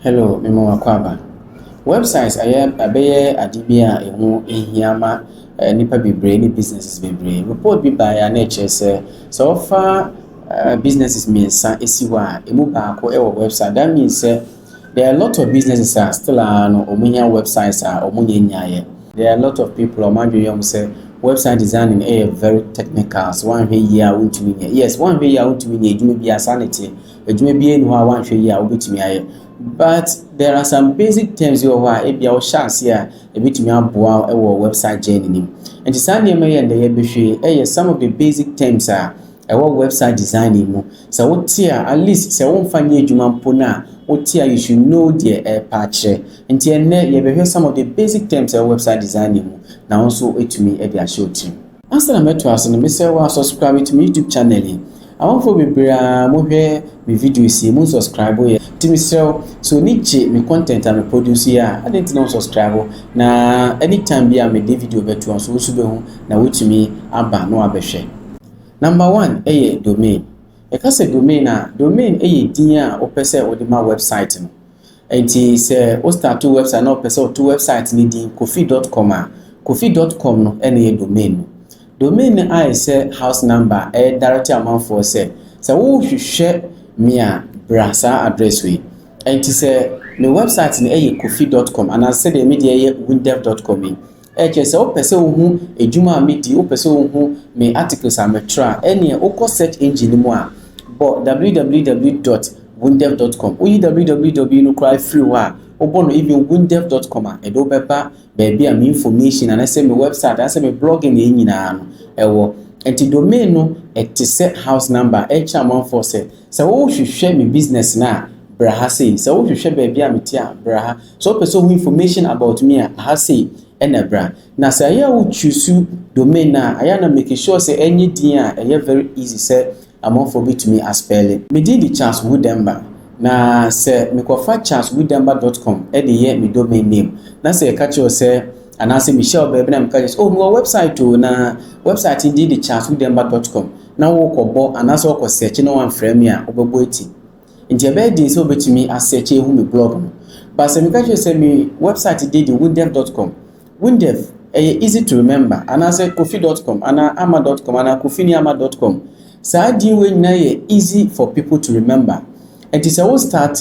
Hello, mema wo akwaaba. Websites ayɛ abɛyɛ ade bi a ɛho hia ma eh, nnipa bebree ne businesses bebree. Report bi baeɛ a na ɛkyerɛ sɛ sɛ wɔfa eh, businesses mmiɛnsa si hɔ a ɛmu baako wɔ website. That means sɛ there are a lot of businesses a still a no wɔn hia websites a wɔn nyɛ nyaeɛ. There are a lot of people a wɔn adwene yɛ wɔn sɛ website designing ɛyɛ very technical so wɔanhwɛ yie a wɔntumi nyɛ. Yes, wɔanhwɛ yie a wɔntumi nyɛ adwuma bi a saa na ɛteɛ. Adwuma biara nni hɔ a woanhwɛ yie a wobɛtumi ayɛ. But there are some basic terms bi wɔ hɔ a ebia wohyɛ aseɛ a ɛbɛtumi aboa wo wɔ website journey no mu. Nti saa nneɛma yi a nnɛ yɛbɛhwɛ yi yɛ some of the basic terms a ɛwɔ website designing mu. Sɛ wote a, at least sɛ womfa nyɛ adwuma mpo no a, wote a you should know deɛ ɛrepa akyerɛ. Nti ɛnnɛ yɛbɛhwɛ some of the basic terms a ɛwɔ website designing mu na wo nso atumi de ahyɛ wo tirim. Ansa na mɛtoa ase no, mesrɛ wo subscribe to me YouTube channel yi. Amanfoɔ bebree ara mohwɛ me videos yi, monsubscribe yɛ. Nti mesrɛ wo, sɛ w'ani gye me content a me produce yi a, adɛn nti na wonsubscribe? Na anytime bi a mede video bɛto a nso wo nso bɛhu na woatumi aba na wabɛhwɛ. Number one yɛ domain. Yɛka sɛ domain a, domain yɛ din a wopɛ sɛ wode ma website no. Enti sɛ wo starto wɛbsaet na ɔpɛ sɛ ɔto wɛbsaet no din Kofi dɔt kɔm a, Kofi dɔt kɔm no na ɛyɛ domain no. Domain no ayɛ sɛ house number a ɛredirect amanfoɔ sɛ, sɛ worehwehwɛ me a, bra saa address wei. Enti sɛ me wɛbsaet no yɛ Kofi dɔt kɔm anaa sɛdeɛ me deɛ yɛ Windef dɔt kɔm yi, Ɛkyerɛ sɛ wopɛ sɛ wohu adwuma a medi, wopɛ sɛ wohu me articles a mekyerɛ a, ɛneɛ wokɔ search engine no mu a, bɔ www dot windef dot com, woyi www no koraa firi hɔ a, wobɔ no even windef dot com a, ɛde wo bɛba baabi a me information anaasɛ me website anaasɛ me blogging yɛ nyinaa no ɛwɔ. Nti domain no ɛte sɛ house number a ɛrekyerɛ amanfoɔ sɛ, sɛ wohwehwɛ me business no a, bra ha sei, sɛ wohwehwɛ baabi a mete a, bra ha. Sɛ wopɛ sɛ wohu information about me a, aha sei na bra. Na sɛ ɛyɛ a wo choose domain a, ɛyɛ a na make sure sɛ ɛnyɛ din a ɛyɛ very easy sɛ amanfoɔ bɛtumi a spɛle. Me din de Charles Wu Demba, na sɛ mekɔfa charleswudemba dot com de yɛ me domain name na sɛ yɛka kyerɛ wo sɛ, anaasɛ mehyia wo baabi na meka kyerɛ wo sɛ, oh mewɔ website o, na website no din de charleswudemba dot com, na wokɔbɔ anaasɛ wokɔ search na woamfrɛ me a, wobɛbɔ ati. Ntsi ɔbɛyɛ dzen sɛ wobetumi a search ehu me blɔg no. But sɛ mekã kyerɛ wo sɛ me wɛbsaet dzin de Windev dot com, Windev, ɛyɛ easy to remember, anaasɛ Kofi dot com anaa Ama dot com anaa Kofi ne Ama dot com, saa dzin wei nyina yɛ easy for people to remember. Ntsi sɛ wo start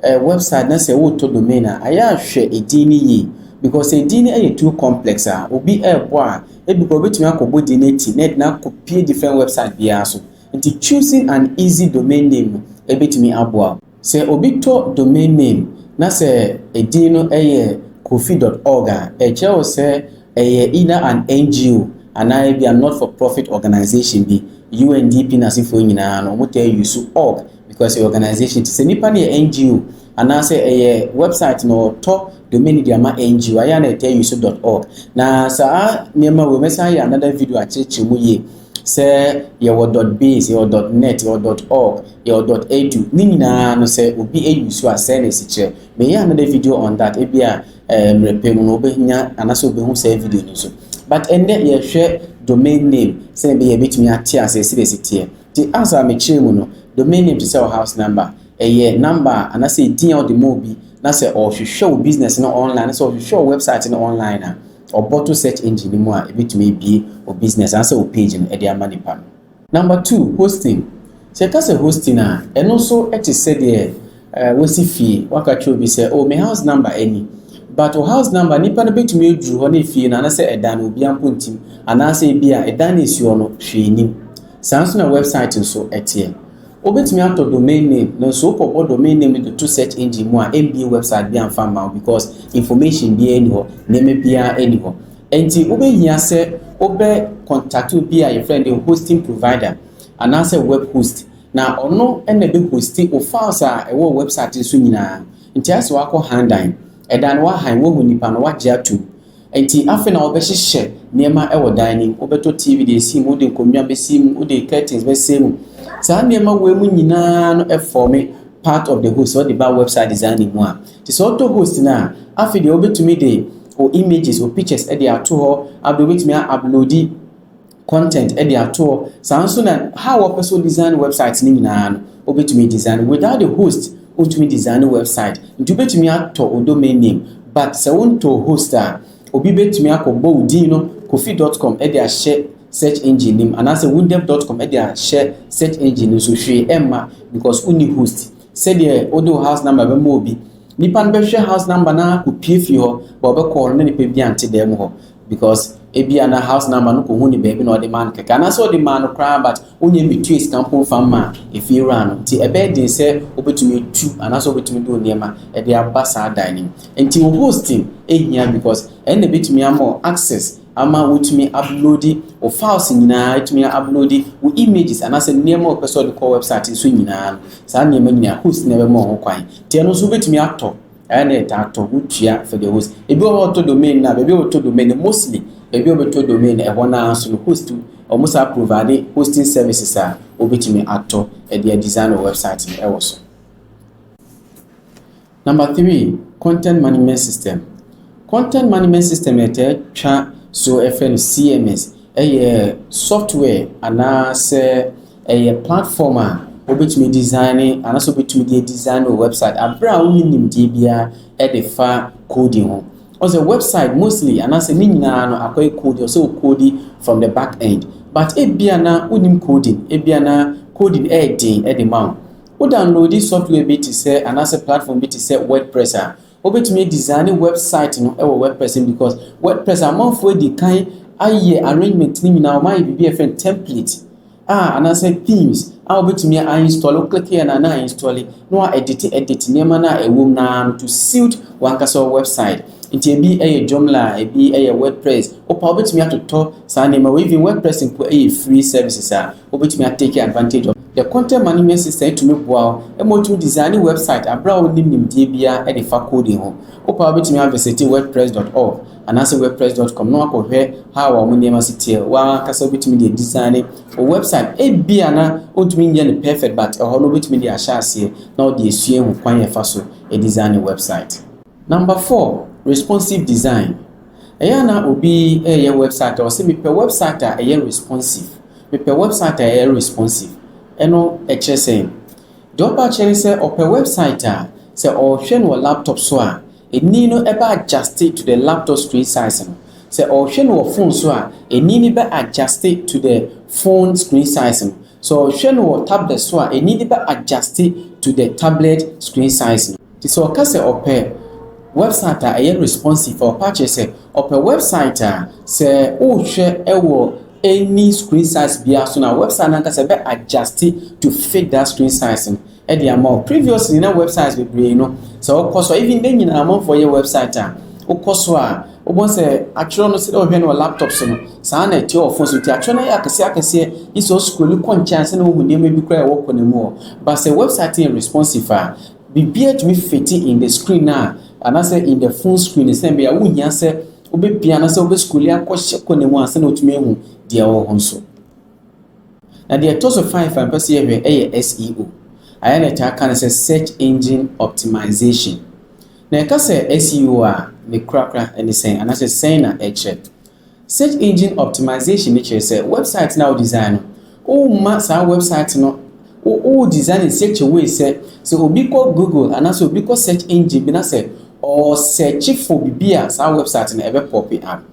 wɛbsaet na sɛ worotɔ domain a, ayɛ a hwɛ dzin no yie. Because sɛ dzin no yɛ too complex a, obi robɔ a, bi koraa obetumi akɔbɔ dzin no etsi na edze no akɔ pue different wɛbsaet biara so. Nti choosing an easy domain name no ɛbɛtumi aboa wo. Sɛ obi tɔ domain name na sɛ ɛdin no yɛ Kofi dot org a, ɛkyerɛ wo sɛ ɛyɛ either an NGO anaa ebia not for profit organisation bi. UNDP n'asefoɔ nyinaa no wɔtaa use org because ɛyɛ organisation. Nti sɛ nipa no yɛ NGO anaa sɛ ɛyɛ website na ɔtɔ domain no de ama NGO a, ɛyɛ a na ɛtaa use dot org. Na saa nneɛma wei mɛsan ayɛ another video akyerɛkyerɛ mu yie. Sɛ yɛwɔ dɔt biz, yɛwɔ dɔt nɛt, yɛwɔ dɔt ɔg, yɛwɔ dɔt ɛdu, ne nyinaa no sɛ obi ɛyusu a sɛɛ na ɛsi kyerɛ. Meyɛ another video on that, ebia mmerɛ pɛ mu no wobɛnya anaasɛ wobɛhu saa video no nso. But ɛnnɛ yɛhwɛ domain name sɛdeɛ ɛbɛyɛ a yɛbɛtumi ate aseɛ sɛdeɛ ɛsi teɛ. Nti as a mekyerɛ mu no, domain name te sɛ wo house number, ɛyɛ number a anaasɛ ɛdin a wode ma obi na sɛ ɔrehwehwɛ wo business no online anaasɛ ɔrehwehwɛ wo website no online a, Ɔbɔto search engine no mu a ebetumi abue wo business anaasɛ wo page no de ama nipa no. Number two, hosting. Sɛ yɛka sɛ hosting a, ɛno nso te sɛdeɛ wosi fie, woaka kyerɛ obi sɛ, oh, me house number ɛni. But wo house number, nipa no betumi aduru hɔ na efie no anaasɛ ɛdan no obiara mpo ntim, anaasɛ ebia ɛdan no a esi hɔ no hwee nnim. Saa nso na website nso teɛ. Wobɛtumi atɔ domain name nanso wokɔbɔ domain name no de to search engine mu a ɛmbie website biara mfa mma wo because information biara nni hɔ, nneɛma biara nni hɔ. Ɛnti wobɛhia sɛ wobɛ contact obi a yɛfrɛ no hosting provider anaasɛ web host na ɔno na ɛbɛ host wo files a ɛwɔ wo website no so nyinaa. Nti ayɛ sɛ woakɔ han dan, ɛdan no woahan, woahu nnipa no woagye atom. Nti afei na wɔbɛhyehyɛ nneɛma wɔ dan no mu. Wobɛtɔ TV de asi mu, wode nkonnwa bɛsi mu, wode curtains bɛsɛn mu. Saa nneɛma wei mu nyinaa no ɛfɔɔme part of the host sɛ wode ba website designing mu a. Nti sɛ wotɔ host no a, afei deɛ wobɛtumi de wo images, wo pictures de ato hɔ. Afei wobɛtumi a-uploadi. content de ato hɔ, saa nso na how a ɔpɛ sɛ o design website no nyinaa no obetumi a design no, without the host ontumi design website, nti wobetumi atɔ o domain name but sɛ wontɔɔ host a obi betumi akɔ bɔ wo din no kofi dot com de ahyɛ search engine no mu anaasɛ wundev dot com de ahyɛ search engine no so hwee ɛmma because wonni host sɛdeɛ wode wo house number bɛma obi nipa no bɛhwɛ house number no ara kɔpie fie hɔ ba ɔbɛkɔɔ no na nipa bi ante dan mu hɔ because ebia na house number no kɔhu ne baabi na ɔde maa no kɛkɛ anaasɛ ɔde maa no koraa but wonyɛ metua sika mpo mfa mma efie wura no nti ɛbɛyɛ den sɛ wobɛtumi atu anaasɛ wobɛtumi de nneɛma de aba saa dan no mu nti wo hosting ehia because ɛno na ebɛtumi ama wo access ama wotumi uploadi wo files nyinaa etumi uploadi wo images anaasɛ nneɛma a wɔpɛ sɛ ɔde kɔ website nso nyinaa saa nneɛma nyinaa host na ɛbɛma ho kwan nti ɛno nso wobɛtumi atɔ Ɛyɛ na ɛtaa tɔ, wotua for the host. Ebi wɔ hɔ ɔtɔ domain no a, baabi a ɔtɔ domain no mostly, baabi a ɔbɛtɔ domain no ɛhɔ no ara nso no host, wɔn saa provide hosting services a wɔbɛtumi atɔ ɛde a design wɔ website no ɛwɔ so. Number three, content management system. Content management system na ɛtaa twa so ɛfɛ no CMS, ɛyɛ software anaasɛ Ɛyɛ platform a wobɛtumi design anaasɛ wobɛtumi de design wɔ website aberɛ a wonni nimdeɛ biara de fa coding ho. Ɔsɛ website mostly anaasɛ ne nyinaa no akɔyɛ coding, ɔsɛ wo coding from the back end. But ebia na wonim coding, ebia na coding ɛyɛ den de ma wo. Wo download software bi te sɛ anaasɛ platform bi te sɛ WordPress a, Wobɛtumi a design website no wɔ wordpress mu because wordpress amanfoɔ adi kan ayɛ arrangement no nyinaa wɔn ayɛ biribi a yɛfrɛ no template a anaasɛ themes a wobɛtumi a install wo click yɛ na na install na wa edit edit nneɛma no a ɛwɔ mu naa no to suit wankasa website nti ebi yɛ Joomla ebi yɛ wordpress wopa wobɛtumi atotɔ saa nneɛma wɔ even wordpress mpo yɛ free services a Wobɛtumi a take advantage of the content management system atumi boa wo ma wotumi design website aberɛ a wonnim nimdeɛ biara de fa coding ho. Wopɛ a wobɛtumi a visite wordpress dot org anaasɛ wordpress dot com na wakɔhwɛ how a wɔn nneɛma si teɛ. W'ankasa wobɛtumi de design wo website. Ebi a na wontumi nyɛ no perfect but ɛhɔ no wobɛtumi de ahyɛ aseɛ na wode asua ahu kwan a ɛfa so design website. Number four, responsive design. Ɛyɛ a na obi reyɛ wɛbsaet a ɔse mepɛ wɛbsaet a ɛyɛ responsive, mepɛ wɛbsaet a ɛyɛ responsive. Ɛno ɛkyerɛ sɛn? Deɛ ɔpɛ akyerɛ ne sɛ ɔpɛ wɛbsaet a sɛ ɔrehwɛ no wɔ laptop so a ɛnii no bɛ adjuste to the laptop screen size no. Sɛ ɔrehwɛ no wɔ phone so a ɛnii no bɛ adjuste to the phone screen size no. Sɛ ɔrehwɛ no wɔ tablet so a ɛnii no bɛ adjuste to the tablet screen size no. Nti sɛ ɔka sɛ ɔpɛ wɛbsaet a ɛyɛ responsive a, ɔpɛ akyerɛ sɛ ɔpɛ wɛbsaet a sɛ wohwɛ wɔ any screen size biara so no a, wɛbsaet no ankasa ɛbɛ adjuste to fit that screen size no ɛde ama wo. Previously na wɛbsaets bebree no sɛ wokɔ so a, even dɛ nyinaa amanfoɔ yɛ wɛbsaet a, wokɔ so a wobɔ sɛ atwerɛ no sɛdeɛ wohwɛ no wɔ laptop so no saa na ɛteɛ wɔ phone so. Nti atwerɛ no yɛ akɛseɛ akɛseɛ gye sɛ wo scroll kɔ nkyɛn ansa na wohu nneɛma bi koraa a ɛwɔ kɔna mu hɔ. But sɛ wɛbsaet no yɛ responsive a, Biribiara tumi fiti in the screen a anaasɛ in the phone screen sɛn bɛyɛ a wonhia sɛ wobɛpia anaasɛ wobɛscrolli akɔ hyɛ kɔ ne mu ansa na watumi ahu deɛ ɛwɔ hɔ nso. Na deɛ ɛtɔ so five a mpɛ sɛ yɛhwɛ ɛyɛ SEO. Ayɛ na ɛtaa ka no sɛ search engine optimization. Na yɛka sɛ SEO a ne korakora ɛne sɛn anaasɛ sɛn na ɛkyerɛ. Search Engine Optimization no kyerɛ sɛ wɛbsaet no a wo design no, worema saa wɛbsaet no wo wo design in such a way sɛ sɛ obi kɔ Google anaasɛ obi kɔ search engine bi na sɛ ɔresɛɛkye for biribi a saa wɛbsaet no ɛbɛ pope up.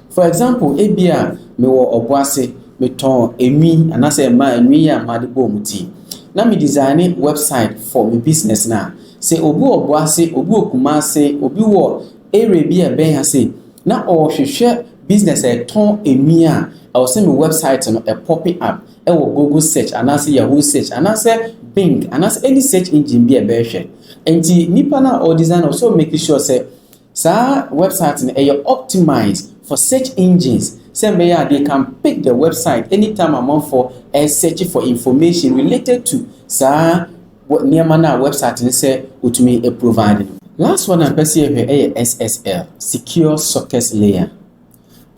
For example, ebia mewɔ Ɔboase, metɔn enwi anaasɛ mmaa enwi yi a made bɔ wɔn ti na me design wɛbsaet for me business no a, sɛ obi wɔ Ɔboase, obi wɔ Kumase, obi wɔ area bi a ɛbɛn ha sei, Na ɔrehwehwɛ business a ɛtɔn nnuan a, ɛwɔ sɛ me website no ɛ pope up wɔ Google search anaasɛ Yahoo search anaasɛ Bing anaasɛ any search engine bi a ɛbɛhwɛ. Nti nipa no a ɔredesign no, ɔwɔ sɛ ɔ make sure sɛ saa website no ɛyɛ optimise for search engines sɛ ɛbɛyɛ a they can pick the website anytime amanfoɔ research for information related to saa Wɔ nneɛma no a wɛbsaet no sɛ otumi provide no. Last one a mpɛ sɛ yɛhwɛ yɛ SSL, Secure Sockets Layer.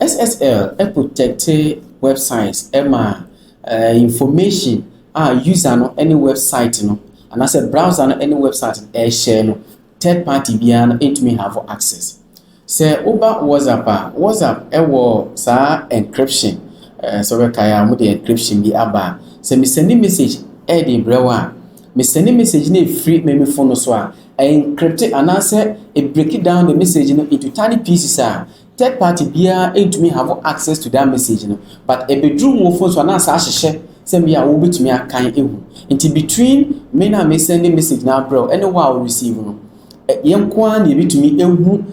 SSL protɛkte wɛbsaet ma information a user no ne wɛbsaet no anaasɛ browser no ne wɛbsaet no share no. third party biara no ntumi have access. Sɛ woba WhatsApp a, WhatsApp wɔ saa encryption, eh, sɛ wobɛkae a, wɔde encryption bi aba a, sɛ mesɛne message ɛde brɛ wo a, mesɛne message no ɛfiri me me phone no so a, ɛencrypte anaasɛ ɛbreki down the message no into tiny pieces a, Third party biara ntumi have access to that message no but ɛbɛduru mo phone so a na saa hyehyɛ sɛ bi a wo bɛtumi akan ahu. Nti between me no a me sɛnde message no abrɛ wo ɛne wo a wo receive no, yɛn nko ara na yɛbɛtumi ahu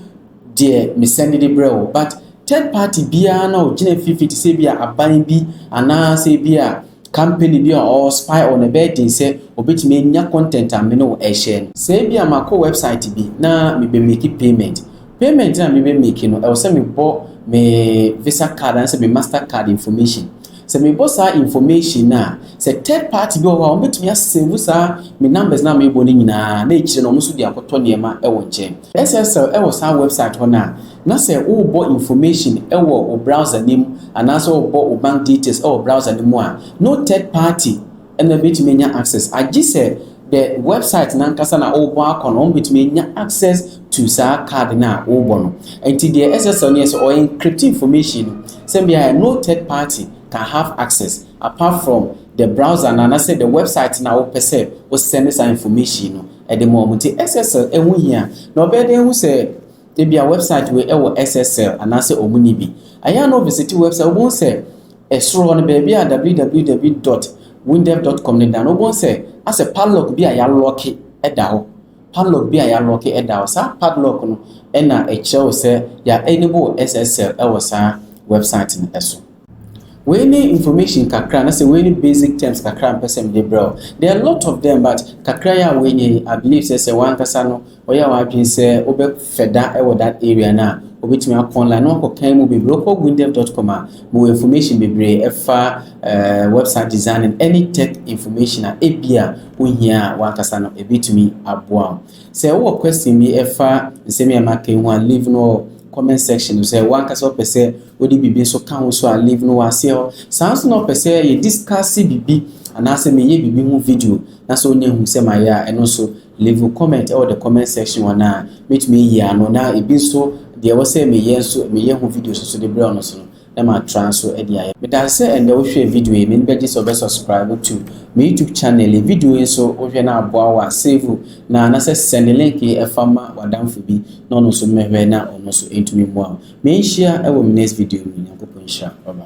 deɛ me sɛnde de brɛ wo but third party biara no a ɔgyina mfimfini te sɛ bi a aban bi anaa sɛ bi a company bi a ɔwɔ spy on ɛbɛyɛ den sɛ ɔbɛtumi anya content a me ne wo ɛrehyɛ no. Sɛ bi a makɔ website bi na mebɛmake payment Payment a mebɛ make no ɛwɔ sɛ mebɔ me visa card anaasɛ me master card information. Sɛ mebɔ saa information no a, sɛ third party bi wɔ hɔ a wɔbɛtumi a save saa me numbers no a mebɔ no nyinaa na akyire no wɔn nso de akɔtɔ nneɛma wɔ nkyɛn. SSL wɔ saa website hɔ no a, na sɛ worebɔ information wɔ wo browser no mu anaasɛ worebɔ wo bank details wɔ browser no mu a, no third party Ɛna wobɛtumi anya access agye sɛ the website no ankasa na wobɔ akɔ no, wɔbɛtumi anya access to saa card no a wobɔ no. Nti deɛ SSL no yɛ sɛ ɔ encrypt information no sɛ bia no third party can have access apart from the browser no anasɛ the website no a wopɛ sɛ wo send saa information no de ma wɔn. Nti SSL ɛho hia na ɔbɛyɛ dɛn ahu sɛ ebia website wei ɛwɔ SSL anaasɛ wɔn nni bi. Ɛyɛ a na wo visit website wobɛhu sɛ Soro hɔ no, baabi a www dot windev dot com no da no, wobɛhu sɛ asɛ padlock bi a wɔalɔɔke da hɔ. Padlock bi a wɔalɔɔke da hɔ. Saa padlock no na ɛkyerɛ wo sɛ yɛaenable SSL wɔ saa wɛbsaet no so. Wei ne information kakra anasɛ wei ne basic terms kakra a mepɛ sɛ mede brɛ wo. There are a lot of them but kakra yi a woanya yi, I believe sɛ sɛ w'ankasa no Ɔyɛ w'adwene sɛ wobɛ fɛ da wɔ that area no a, obetumi akɔ online na wakɔ kan mu bebree. Wokɔ windev.com a, mo wɔ information bebree ɛfa uh, website design and any tech information a ebi a wohia a wankasa no ebetumi aboa wo. Sɛ wowɔ question bi ɛfa nsɛm yɛ maka yi ho a, leave no wɔ comment section no sɛ wankasa ɔpɛ sɛ wode biribi nso ka ho so a leave no wɔ aseɛ hɔ. Saa nso na ɔpɛ sɛ yɛ discuss biribi anaasɛ meyɛ biribi ho video na sɛ ɔnya hu sɛ mayɛ a ɛno nso Leave wo comment wɔ the comment section hɔ na mɛtumi ayi ano na ebi nso deɛ ɛwɔ sɛ meyɛ nso meyɛ ho videos nso de brɛ wo no nso no na matra nso de ayɛ. Meda ase sɛ ɛnnɛ wohwɛɛ video yi, m'ani bɛgye sɛ wobɛ subscribe to me YouTube channel yi, video yi nso wohwɛ na aboa wo a save na anasɛ sɛnde link yi ɛfa ma w'adamfo bi na ɔno nso mmɛhwɛ na ɔno nso ɛntumi mmoa wo. Me nhyia wɔ me next video mu, Nyankopɔn nhyira, bye bye.